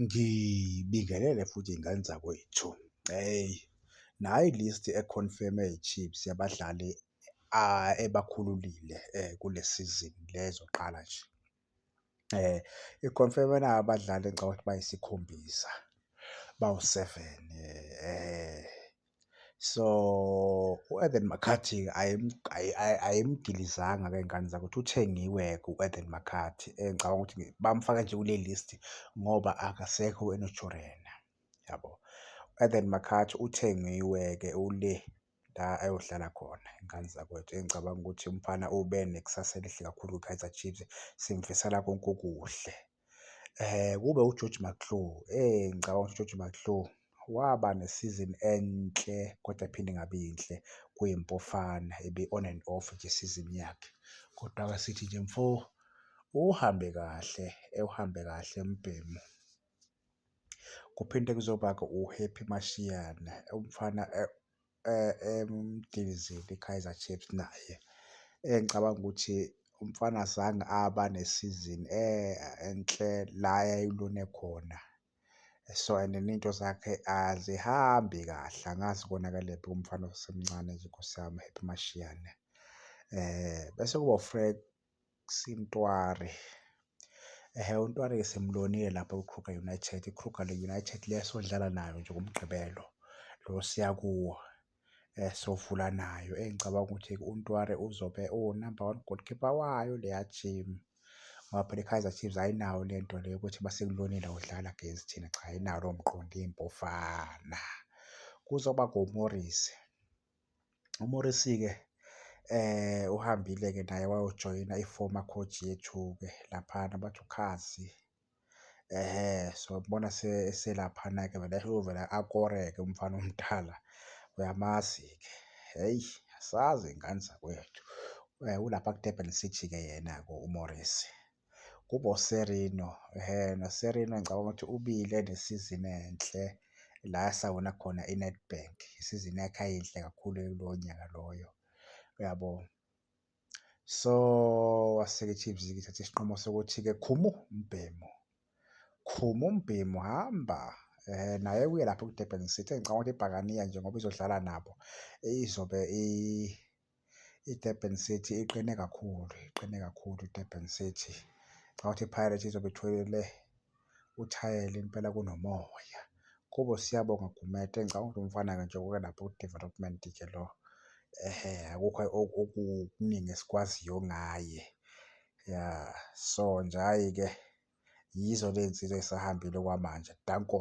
Ngibingelele futhi iy'ngane zakwethu. Hheyi, nayi i-list e-confirm-e ye-Chiefs yabadlali ebakhululile kule sizini le ezoqala nje. I-confirm-e nayi abadlali engicabanga ukuthi bayisikhombisa, bawu-seven . So u-Eden McCarthy ayimgilizanga ke ngani zakuthi uthengiwe-ke u-Eden McCarthy engicabanga ukuthi bamfake nje kule list ngoba akasekho uNaturena, yabo. U-Eden McCarthy uthengiwe-ke ule la ayohlala khona ingane zakwethu engicabanga ukuthi umfana ube nekusasa elihle kakhulu kwiKaizer Chiefs, simfisela konke okuhle. Kube uGeorge McClure, eyi ngicabanga ukuthi uGeorge McClure waba nesizini enhle kodwa yaphinde ingaba yinhle kwiMpofana ebe-on and off nje isizini yakhe. Kodwa-ke sithi nje mfo uhambe kahle, ewuhambe kahle umbhemu. Kuphinde kuzoba-ke uHappy Masiyane, umfana . emgilizile iKaizer Chiefs naye engicabanga ukuthi umfana azange aba nesizini enhle la yayilune khona. So and ney'nto zakhe azihambi kahle angazi konakele kuphi kumfana osemncane nje Nkosi yami uHappy Mashiane. Bese kuba uFrek Sintwari. Ehhe uNtwari-ke simbonile lapha kwiKruger United. IKruger le United le esodlala nayo nje ngoMgqibelo lo siya kuwo sovula nayo engicabanga ukuthi uNtwari uzobe uwu-number one goalkeeper wayo leya team ngoba phela iKaizer Chiefs ayinawo le nto le yokuthi uma sikulonile awudlali against thina, cha ayinawo lowo mqondo iMpofana. Kuzoba ngoMorris. UMorrissy-ke uhambile-ke naye wayojoyina i-former coach yethu-ke laphana bathi uKhazi. Ehhe, so ngibona eselaphana-ke vele uyovele akore-ke umfana omdala, uyamazi-ke. Hheyi, asazi ngane zakwethu. Ulapha kuDurban City-ke yena-ke uMorrissy. kuboSerino. NoSerino ngicabanga ukuthi ubile nesizini enhle la asawina khona iNedbank. Isizini yakhe ayinhle kakhulu kulowo nyaka loyo, uyabo? So, wase-ke iChiefs-ke ithathe isinqumo sokuthi-ke Khumu umbhemu, Khumu umbhemu hamba naye uye lapho kwiDurban City. Ngicabanga ukuthi iBhakaniya njengoba izodlala nabo izobe . IDurban City iqine kakhulu, iqine kakhulu iDurban City. Ngicabanga ukuthi iPirates izobe itholile uthayela impela kunomoya. Kubo siyabonga Gumede, ngicabanga ukuthi umfana-ke nje oke lapho ku-development-ke lo. Ehhe, akukho okuningi esikwaziyo ngaye. Ya, so nje hhayi-ke yizo ley'nsizwa ey'sahambile okwamanje. Danko.